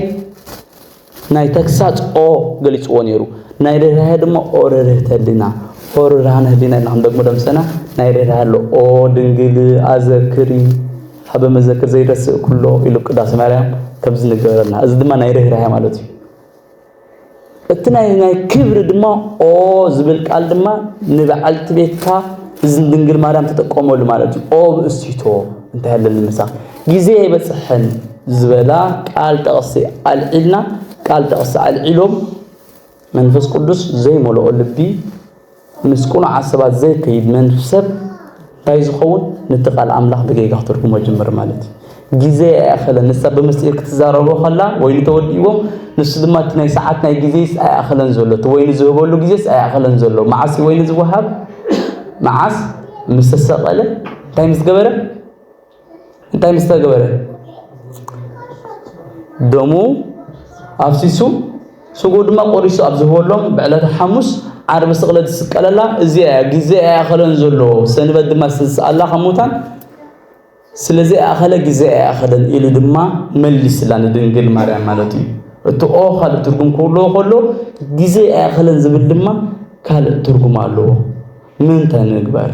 ናይ ተግሳጽ ኦ ገሊጽዎ ነይሩ ናይ ርህራሄ ድማ ኦ ርህርህተ ህሊና ኦ ርህራህነ ህሊና ኢልና ክንደግሞ ደምሰና ናይ ርህራሄ ኣሎ ኦ ድንግል ኣዘክሪ ሃበ መዘክር ዘይረስእ ኩሎ ኢሉ ቅዳሴ ማርያም ከምዚ ንገበረልና እዚ ድማ ናይ ርህራሄ ማለት እዩ እቲ ናይ ናይ ክብሪ ድማ ኦ ዝብል ቃል ድማ ንበዓልቲ ቤትካ እዚ ድንግል ማርያም ተጠቀመሉ ማለት እዩ ኦ ብእሲቶ እንታይ ኣለኒ ምሳኽ ግዜ ኣይበጽሕን ዝበላ ቃል ጠቕሲ ኣልዒልና ቃል ጠቕሲ ኣልዒሎም መንፈስ ቅዱስ ዘይመልኦ ልቢ ምስ ቁኑዓት ሰባት ዘይከይድ መንፍ ሰብ እንታይ ዝኸውን ነቲ ቃል ኣምላኽ ብጌጋ ክትርጉሞ ጅምር ማለት እዩ ግዜ ኣይኣኸለን ንሳ ብምስጢር ክትዛረቦ ከላ ወይኒ ተወዲእዎም ንሱ ድማ እቲ ናይ ሰዓት ናይ ግዜስ ኣይኣኸለን ዘሎ እቲ ወይኒ ዝህበሉ ግዜስ ኣይኣኸለን ዘሎ መዓስ እዩ ወይኒ ዝወሃብ መዓስ ምስ ተሰቐለ እንታይ ምስ ገበረ እንታይ ምስ ተገበረ ደሙ ኣፍሲሱ ስጉ ድማ ቆሪሱ ኣብ ዝህበሎም ብዕለተ ሓሙስ ዓርቢ ስቕለት ዝስቀለላ እዚኣ እያ ግዜ ኣይኣኸለን ዘሎ ሰንበት ድማ ዝተስኣላ ካብ ሙታን ስለዚ ኣኸለ ግዜ ኣይኣኸለን ኢሉ ድማ መሊስላ ንድንግል ማርያም ማለት እዩ እቲ ኦ ካልእ ትርጉም ክህልዎ ከሎ ግዜ ኣይኣኸለን ዝብል ድማ ካልእ ትርጉም ኣለዎ ምንታይ ንግበር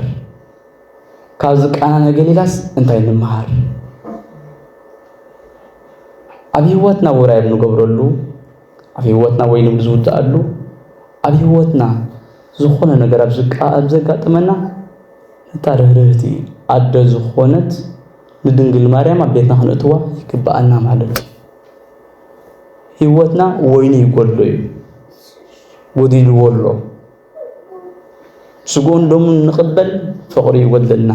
ካብዚ ቃና ነገሊላስ እንታይ ንምሃር? ኣብ ህይወትና ውራይ ንገብረሉ፣ ኣብ ህይወትና ወይ ንዝውዳኣሉ፣ ኣብ ህይወትና ዝኾነ ነገር ኣብ ዘጋጥመና ነታ ርህርህቲ ኣደ ዝኾነት ንድንግል ማርያም ኣብ ቤትና ክንእትዋ ይግብኣና ማለት እዩ። ህይወትና ወይኒ ይጎድሎ እዩ፣ ጎዲልዎ ኣሎ። ስጉኡን ደሙን ንቕበል ፍቕሪ ይጎድለና።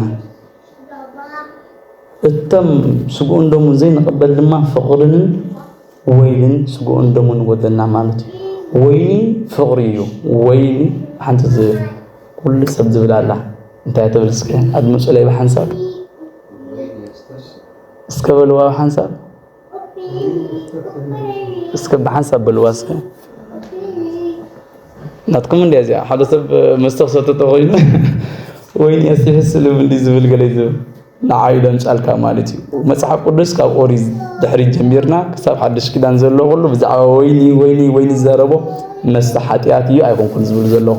እቶም ስጉኡን ደሙን ዘይንቕበል ድማ ፍቕርንን ወይንን ስጉኡን ደሙን ይጎድለና ማለት እዩ። ወይኒ ፍቕሪ እዩ። ወይኒ ሓንቲ ኩሉ ሰብ ዝብል ኣላ እንታይ ትብል እስከ ኣድምፁለይ ብሓንሳብ እስከ በልዋ ብሓንሳብ እስከ ብሓንሳብ በልዋ እስከ ናትኩም እንዲያ እዚኣ ሓደ ሰብ መስተ ክሰተ ተኮይኑ ወይኒ ኣስቲሕስ ስልም እንዲ ዝብል ገለ ዝብል ንዓይ ደምጫልካ ማለት እዩ መፅሓፍ ቅዱስ ካብ ኦሪት ድሕሪ ጀሚርና ክሳብ ሓድሽ ኪዳን ዘሎ ኩሉ ብዛዕባ ወይኒ ወይኒ ወይኒ ዝዛረቦ መስተ ሓጢኣት እዩ ኣይኮንኩን ዝብል ዘለኹ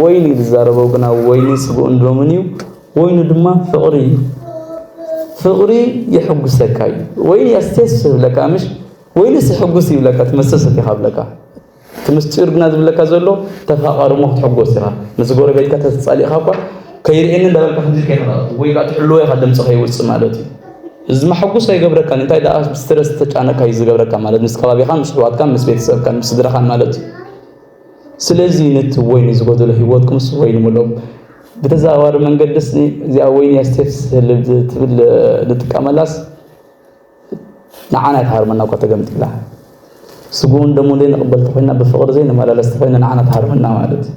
ወይኒ ዝዛረቦ ግና ወይኒ ስግኡን ደሙን እዩ ወይኑ ድማ ፍቕሪ እዩ። ፍቕሪ የሕጉሰካ እዩ ወይን የስተስፍ ይብለካ ምሽ ወይንስ የሕጉስ ይብለካ ትመስተስፍ ኢኻ ብለካ እቲ ምስጢር ግና ዝብለካ ዘሎ ተፋቐሪ እሞ ክትሕጎስ ኢኻ ምስ ጎረቤትካ ተተፃሊእኻ እኳ ከይርእየኒ እንዳበልካ ከምዚ ከይኸዳቱ ወይ ከዓ ትሕልዎ ኢኻ ድምፂ ከይውፅእ ማለት እዩ እዚ መሐጉስ ኣይገብረካን እንታይ ደኣ ስትረስ ተጫነካ እዩ ዝገብረካ ማለት ምስ ከባቢኻን ምስ ሕዋትካን ምስ ቤተሰብካን ምስ ስድራኻን ማለት እዩ ስለዚ ነቲ ወይኒ ዝጎደሎ ህይወትኩምስ ወይኒ ምልኡ። ብተዘዋዋሪ መንገድስ እዚኣ ወይኒ ስቴፕስ ትብል ንጥቀመላስ ንዓና ትሃርመና እኳ ተገምጢላ ስጉኡን ደሙን ዘይንቕበል ተኾይና ብፍቕሪ ዘይንመላለስ ተኾይና ንዓና ትሃርመና ማለት እዩ።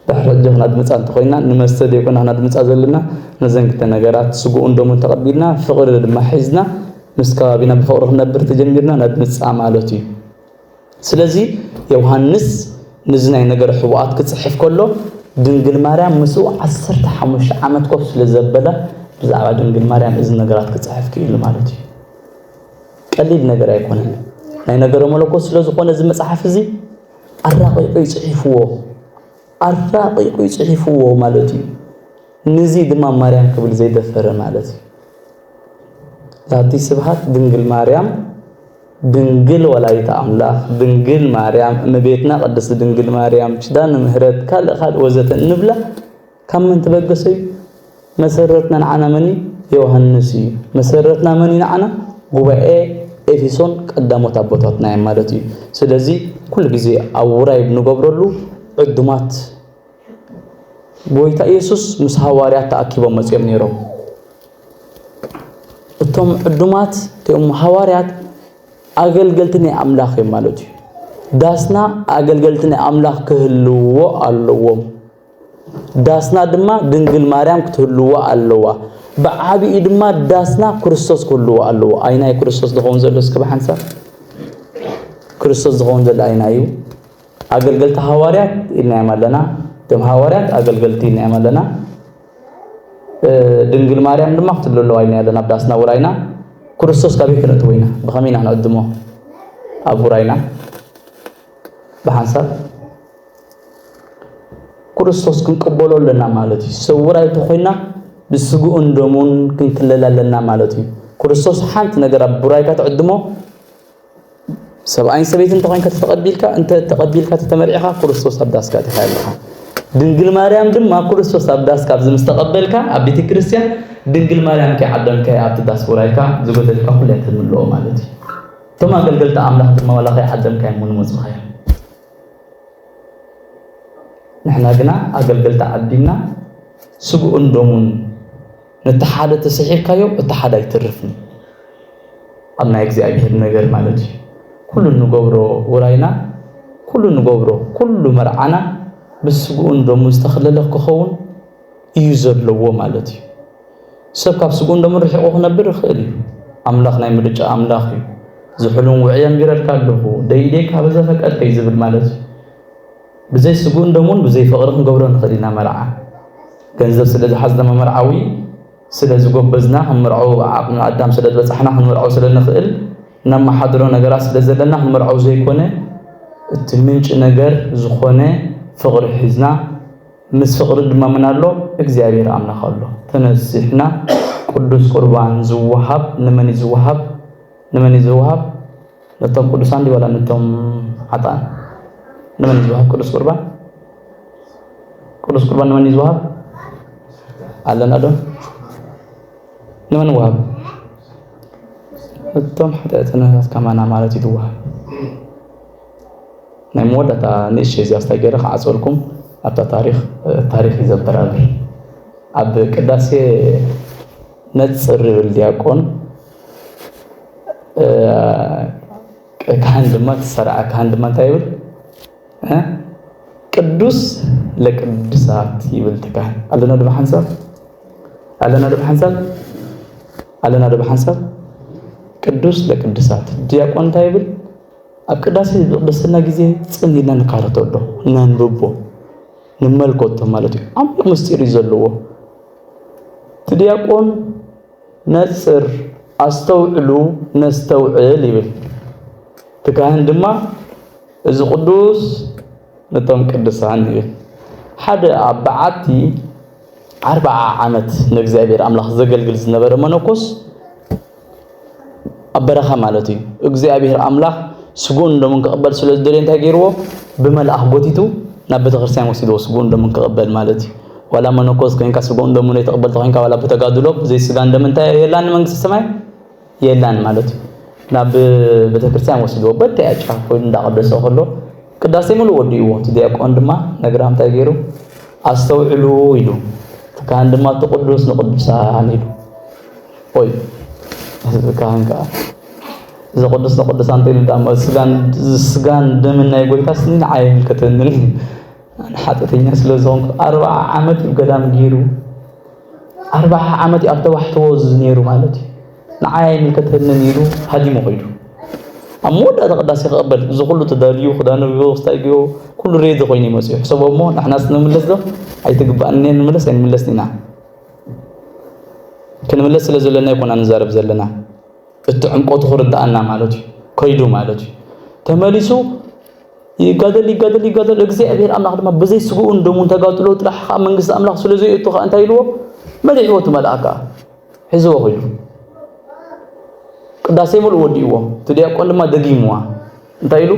ድሕሪ ሕጂ ክናድምፃ እንተኾይና ንመስተ ዘይኮና ክናድምፃ ዘለና ነዘን ክልተ ነገራት ስጉኡን ደሙን ተቐቢልና ፍቕሪ ድማ ሒዝና ምስ ከባቢና ብፍቕሪ ክንነብር ተጀሚርና ነድምፃ ማለት እዩ። ስለዚ ዮውሃንስ ንዚ ናይ ነገረ ሕቡኣት ክጽሕፍ ከሎ ድንግል ማርያም ምስኡ ዓሰርተ ሓሙሽተ ዓመት ኮፍ ስለ ዘበለ ብዛዕባ ድንግል ማርያም እዚ ነገራት ክጽሕፍ ክኢሉ ማለት እዩ። ቀሊል ነገር ኣይኮነን። ናይ ነገረ መለኮት ስለ ዝኾነ እዚ መጽሓፍ እዚ ኣራቂቁ ይጽሒፍዎ ኣራቂቁ ይጽሒፍዎ ማለት እዩ። ንዚ ድማ ማርያም ክብል ዘይደፈረ ማለት እዩ። ዛቲ ስብሃት ድንግል ማርያም ድንግል ወላዲተ ኣምላኽ፣ ድንግል ማርያም፣ እመቤትና ቅድስት ድንግል ማርያም፣ ኪዳነ ምህረት፣ ካልእ ካልእ ወዘተ እንብላ ካብ መን ተበገሰ እዩ? መሰረትና ንዓና መን እዩ? ዮሃንስ እዩ። መሰረትና መን እዩ ንዓና? ጉባኤ ኤፌሶን ቀዳሞት ኣቦታትና እዮም ማለት እዩ። ስለዚ ኩሉ ግዜ ኣብ ውራይ ብንገብረሉ ዕዱማት ጎይታ ኢየሱስ ምስ ሃዋርያት ተኣኪቦም መጺኦም ነይሮም። እቶም ዕዱማት እቶም ሃዋርያት ኣገልገልቲ ናይ ኣምላኽ እዮም ማለት እዩ። ዳስና ኣገልገልቲ ናይ ኣምላኽ ክህልውዎ ኣለዎም። ዳስና ድማ ድንግል ማርያም ክትህልዎ ኣለዋ። ብዓቢኡ ድማ ዳስና ክርስቶስ ክህልዎ ኣለዎ። ኣይና እዩ ክርስቶስ ዝኸውን ዘሎ እስከ ብሓንሳብ ክርስቶስ ዝኸውን ዘሎ ኣይና እዩ። ኣገልገልቲ ሃዋርያት ኢልናዮም ኣለና። እቶም ሃዋርያት ኣገልገልቲ ኢልናዮም ኣለና። ድንግል ማርያም ድማ ክትብሎ ኣለዋ ኢልና ኣለና ኣብ ዳስና ውራይና ክርስቶስ ካበይ ክነእትዎ ኢና ብኸመይ ኢና ንዕድሞ ኣብ ውራይና ብሓንሳብ ክርስቶስ ክንቅበሎ ኣለና ማለት እዩ ሰብ ውራይ ተኾይና ብስግኡን ደሙን ክንክለል ኣለና ማለት እዩ ክርስቶስ ሓንቲ ነገር ኣብ ውራይካ ትዕድሞ ሰብኣይን ሰበይትን እንተኾይንካ ተተቐቢልካ እንተ ተቐቢልካ ተተመርዒኻ ክርስቶስ ኣብ ዳስካ ኣቲኻ ኣለኻ ድንግል ማርያም ድማ ክርስቶስ ኣብ ዳስካ ኣብዚ ምስ ተቐበልካ ኣብ ቤተ ክርስቲያን ድንግል ማርያም ከይዓደምካያ ኣብቲ ዳስ ውራይካ ዝጎደልካ ኩሉ እያ ተምልኦ ማለት እዩ እቶም ኣገልገልቲ ኣምላኽ ድማ ዋላ ከይዓደምካያ እሞ ንመፁኻ እዮም ንሕና ግና ኣገልገልቲ ዓዲምና ስግኡን ደሙን ነቲ ሓደ ተሰሒብካዮ እቲ ሓደ ኣይትርፍን ኣብ ናይ እግዚኣብሔር ነገር ማለት እዩ ኩሉ እንገብሮ ውራይና ኩሉ እንገብሮ ኩሉ መርዓና ምስ ስግኡን ደሙ ዝተኸለለ ክኸውን እዩ ዘለዎ ማለት እዩ ሰብ ካብ ስግኡን ደሙ ርሒቑ ክነብር ይኽእል እዩ ኣምላኽ ናይ ምርጫ ኣምላኽ እዩ ዝሑሉን ውዕየን ጌረልካ ኣለኹ ደይደይካ በዘፈቀድከይ ዝብል ማለት እዩ ብዘይ ስግኡን ደሙን ብዘይ ፍቕሪ ክንገብሮ ንኽእል ኢና መርዓ። ገንዘብ ስለ ዝሓዝና መመርዓዊ ስለ ዝጎበዝና ክንምርዖ ዓቕሚ ኣዳም ስለ ዝበጻሕና ክንምርዖ ስለ ንኽእል ነማሓድሮ ነገራት ስለ ዘለና ክንምርዖ ዘይኮነ እቲ ምንጪ ነገር ዝኾነ ፍቕሪ ሒዝና ምስ ፍቕሪ ድማ መን ኣሎ እግዚኣብሔር ኣምላኽ ኣሎ ተነሲሕና ቅዱስ ቁርባን ዝወሃብ ንመን እዩ ዝወሃብ ንመን እዩ ዝወሃብ ነቶም ቅዱሳን ድዩ ዋላ ነቶም ሓጥኣን? ንመን እዩ ዝወሃብ ቅዱስ ቁርባን? ቅዱስ ቁርባን ንመን እዩ ዝወሃብ? ኣለና ዶ? ንመን ይወሃብ? እቶም ሓጢኣተኛታት ከማና ማለት እዩ ዝወሃብ። ናይ መወዳእታ ንእሽተይ እዚኣ ስታይ ገይረ ክዓፅወልኩም ኣብታ ታሪክ ታሪክ እዩ ዘበራብር ኣብ ቅዳሴ ነፅር ይብል ዲያቆን ካህን ድማ ትሰራዕ ካህን ድማ እንታይ ይብል ቅዱስ ለቅዱሳት ይብል ትካህን ኣለና ድማ ሓንሳብ ኣለና ድማ ሓንሳብ ኣለና ድማ ሓንሳብ ቅዱስ ለቅዱሳት ዲያቆን እንታይ ይብል ኣብ ቅዳሴ ቅድስና ጊዜ ጽን ኢልና ንካረቶ ኣሎ ነንብቦ ንመልከቶ ማለት እዩ ዓሚቕ ምስጢር እዩ ዘለዎ እቲ ዲያቆን ነጽር ኣስተውዕሉ ነስተውዕል ይብል። እቲ ካህን ድማ እዚ ቅዱስ ነቶም ቅዱሳን ይብል። ሓደ ኣብ በዓቲ ዓርብዓ ዓመት ንእግዚኣብሔር ኣምላኽ ዘገልግል ዝነበረ መነኮስ ኣብ በረኻ ማለት እዩ። እግዚኣብሔር ኣምላኽ ስግኡን ደሙን ክቕበል ስለ ዝደለየ እንታይ ገይርዎ? ብመልኣኽ ጎቲቱ ናብ ቤተክርስትያን ወሲድዎ ስግኡን ደሙን ክቕበል ማለት እዩ። ዋላ መነኮስ ኮይንካ ስግኡን ደሙን ዘይትቕበል ተኾይንካ ዋላ ብተጋድሎ ብዘይ ስጋን ደምን እንታይ የላን መንግስተ ሰማይ የላን ማለት እዩ። ናብ ቤተክርስትያን ወሲድዎ በተያ ጫፍ ኮይኑ እንዳቐደሰ ከሎ ቅዳሴ ምሉእ ወዲእዎ እቲ ዲያቆን ድማ ነግራም እንታይ ገይሩ ኣስተውዕሉ ኢሉ እቲ ካህን ድማ እቲ ቅዱስ ንቅዱሳን ኢሉ ኦይ ህዝቢ ካህን ከዓ እዚ ቅዱስ ንቅዱሳን ተይሉ ዳሞ ስጋን ደምን ናይ ጎይታስ ምን ኣይምልከተንን ሓጢአተኛ ስለ ዝኾንኩ ኣርብዓ ዓመት እዩ ገዳም ገይሩ ኣርብዓ ዓመት እዩ ኣብ ተባሕትዎ ነይሩ ማለት እዩ ንዓይ ኣይምልከተንን ኢሉ ሃዲሙ ከይዱ ኣብ መወዳእታ ቅዳሴ ክቕበል እዚ ኩሉ ተዳልዩ ክዳኑ ክስታይ ገይሩ ኩሉ ሬዲ ኮይኑ ይመፅኡ ሕሰቦ እሞ ንሕናስ ንምለስ ዶ ኣይትግባእን ንምለስ ኣይንምለስን ኢና ክንምለስ ስለ ዘለና ይኮና ንዛረብ ዘለና እቲ ዕምቆቱ ክርዳኣና ማለት እዩ ከይዱ ማለት እዩ ተመሊሱ ይጋደል ይጋደል ይጋደል እግዚኣብሔር ኣምላኽ ድማ ብዘይ ስግኡን ደሙን ተጋድሎ ጥራሕ ከዓ መንግስቲ ኣምላኽ ስለ ዘይእቱ ከዓ እንታይ ኢልዎ መሊእዎ እቲ መልኣክ ከዓ ሒዝዎ ኮይኑ ቅዳሴ ሙሉእ ወዲእዎ እቲ ዲያቆን ድማ ደጊምዋ እንታይ ኢሉ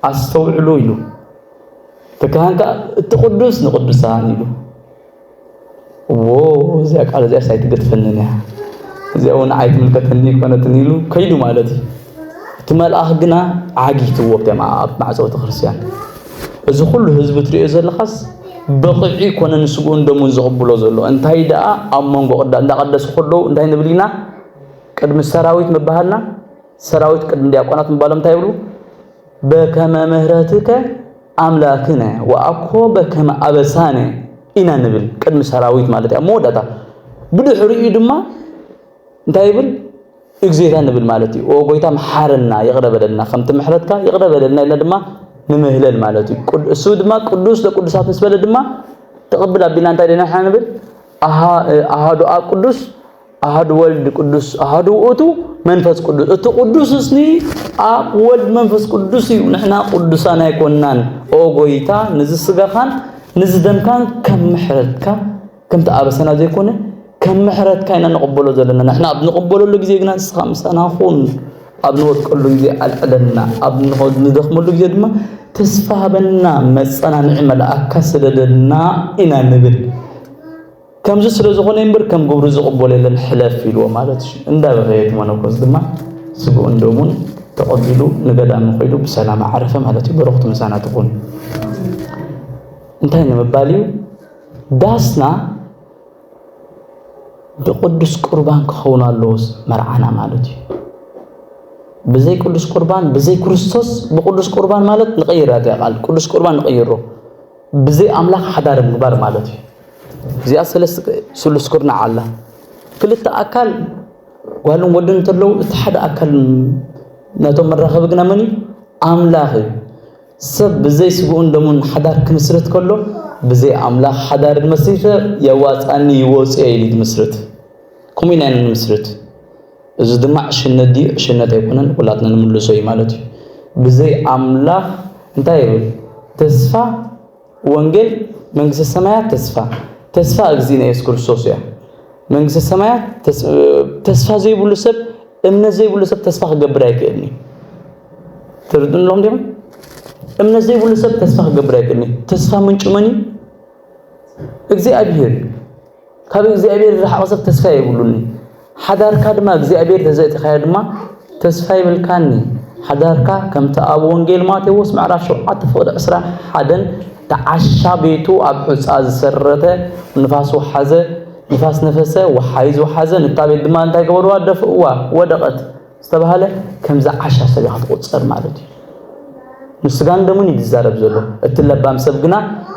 ኣስተውዕሉ ኢሉ እቲ ካህን ከዓ እቲ ቅዱስ ንቅዱሳን ኢሉ እዎ እዚኣ ቃል እዚኣስ ኣይትገድፈንን እያ፣ እዚኣ እውን ንዓይ ትምልከተኒ ኣይኮነትን ኢሉ ከይዱ ማለት እዩ። እቲ መልኣኽ ግና ዓጊትዎ ኣብቶም ኣብ ማዕጾ ቤተክርስትያን እዚ ኩሉ ህዝቢ ትሪኦ ዘለኻስ በኺዑ ኣይኮነን ስግኡን ደሙን ዝቕብሎ ዘሎ እንታይ ደኣ ኣብ መንጎ ቅዳ እንዳቀደሱ ከለዉ እንታይ ንብል ኢና ቅድሚ ሰራዊት ምባሃልና ሰራዊት ቅድሚ ዲያቆናት ምባሎም እንታይ ይብሉ በከመ ምህረትከ ኣምላክነ ወኣኮ በከመ ኣበሳነ ኢና ንብል ቅድሚ ሰራዊት ማለት እዩ ኣብ መወዳእታ ብድሕሪኡ ድማ እንታይ ይብል እግዜታ ንብል ማለት እዩ ኦ ጎይታ መሓረና ይቕረ በለልና ከምቲ ምሕረትካ ይቕረ በለልና ኢልና ድማ ንምህለል ማለት እዩ እሱ ድማ ቅዱስ ለቅዱሳት ምስ በለ ድማ ተቕብል ኣቢልና እንታይ ደና ንብል ኣሃዱ ኣብ ቅዱስ ኣሃዱ ወልድ ቅዱስ ኣሃዱ ውእቱ መንፈስ ቅዱስ እቲ ቅዱስ እስኒ ኣብ ወልድ መንፈስ ቅዱስ እዩ ንሕና ቅዱሳን ኣይኮናን ኦ ጎይታ ንዚ ስጋኻን ንዚ ደምካን ከም ምሕረትካ ከምቲ ኣበሰና ዘይኮነ ከም ምሕረትካ ኢና ንቕበሎ ዘለና ንሕና ኣብ ንቕበለሉ ግዜ ግና ንስኻ ምሳና ኹን ኣብ ንወድቀሉ ግዜ ኣልዕለና ኣብ ንደኽመሉ ግዜ ድማ ተስፋ ሃበና መፀናንዒ መልኣካ ስደደልና ኢና ንብል ከምዚ ስለ ዝኾነ እምበር ከም ግብሩ ዝቕበሎ የለን ሕለፍ ኢልዎ ማለት እዩ እንዳበኸየ እቲ መነኮስ ድማ ስግኡን ደሙን ተቐቢሉ ንገዳሙ ከይዱ ብሰላም ዓረፈ ማለት እዩ በረኽቱ ምሳና ትኹን እንታይ ንምባል እዩ ዳስና ብቅዱስ ቁርባን ክኸውን ኣለዎ መርዓና ማለት እዩ ብዘይ ቅዱስ ቁርባን ብዘይ ክርስቶስ ብቅዱስ ቁርባን ማለት ንቀይራ እዚኣ ቃል ቅዱስ ቁርባን ንቀይሮ ብዘይ ኣምላኽ ሓዳር ምግባር ማለት እዩ እዚኣ ሰለስተ ስሉስ ኩርናዕ ኣላ። ክልተ ኣካል ጓልን ወድን እንተለዉ እቲ ሓደ ኣካል ነቶም መራኸቢ ግና መን እዩ? ኣምላኽ እዩ። ሰብ ብዘይ ስግኡን ደሙን ሓዳር ክምስርት ከሎ ብዘይ ኣምላኽ ሓዳር መስሪተ የዋፃኒ ይወፅ እየ ኢሉ ዝምስርት ከምኡ ኢና ንምስርት። እዚ ድማ ዕሽነት ድዩ ዕሽነት ኣይኮነን ኩላትና ንምልሶ እዩ ማለት እዩ። ብዘይ ኣምላኽ እንታይ ይብል ተስፋ ወንጌል መንግስተ ሰማያት ተስፋ ተስፋ እግዚእነ ኢየሱስ ክርስቶስ እያ። መንግስተ ሰማያት ተስፋ ዘይብሉ ሰብ እምነት ዘይብሉ ሰብ ተስፋ ክገብር ኣይክእልን እዩ ትርድእሎም ዲኹም እምነት ዘይብሉ ሰብ ተስፋ ክገብር ኣይክእልን እዩ ተስፋ ምንጩ መን እዩ እግዚኣብሔር እዩ ካብ እግዚኣብሔር ዝረሓቐ ሰብ ተስፋ የብሉን እዩ። ሓዳርካ ድማ እግዚኣብሔር ተዘእቲኻዮ ድማ ተስፋ ይብልካን እዩ። ሓዳርካ ከምቲ ኣብ ወንጌል ማቴዎስ ምዕራፍ ሸውዓተ ፍቕዲ ዕስራ ሓደን ተዓሻ ቤቱ ኣብ ሑፃ ዝሰረተ ንፋስ ወሓዘ ንፋስ ነፈሰ ወሓይዝ ወሓዘ ንታ ቤት ድማ እንታይ ገበርዋ ደፍእዋ ወደቐት ዝተባህለ ከም ዝዓሻ ሰብ ኢኻ ትቑጸር ማለት እዩ። ንስጋን ደሙን እዩ ዝዛረብ ዘሎ። እቲ ለባም ሰብ ግና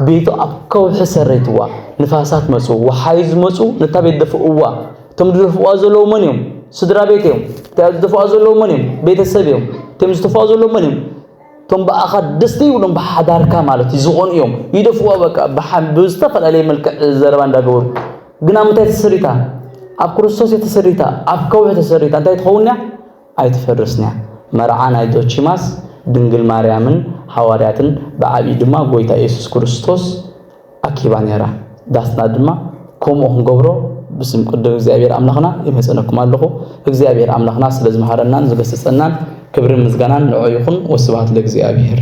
ቤቱ ኣብ ከውሒ ሰረይትዋ፣ ንፋሳት መጹ፣ ወሓይዝ መጹ፣ ነታ ቤት ደፍእዋ። እቶም ዝደፍእዋ ዘለዉ መን እዮም? ስድራ ቤት እዮም። እታ ዝደፍእዋ ዘለዉ መን እዮም? ቤተሰብ እዮም። እቶም ዝተፍእዋ ዘለዉ መን እዮም? እቶም ብኣኻ ደስ ዘይብሎም ብሓዳርካ ማለት እዩ ዝኾኑ እዮም። ይደፍእዋ በቃ ብዝተፈላለየ መልክዕ ዘረባ እንዳገበሩ ግን ኣብ ምንታይ ተሰሪታ? ኣብ ክርስቶስ እያ ተሰሪታ፣ ኣብ ከውሒ ተሰሪታ። እንታይ ትኸውን እያ? ኣይትፈርስን እያ። መርዓ ናይ ዞቺማስ ድንግል ማርያምን ሃዋርያትን ብዓቢኡ ድማ ጎይታ የሱስ ክርስቶስ ኣኪባ ነይራ። ዳስና ድማ ከምኡ ክንገብሮ ብስም ቅዱስ እግዚኣብሔር ኣምላኽና ይመጸነኩም ኣለኹ። እግዚኣብሔር ኣምላኽና ስለ ዝመሃረናን ዝገሰጸናን ክብርን ምስጋናን ንዑ ይኹን። ወስብሃት ለእግዚኣብሔር።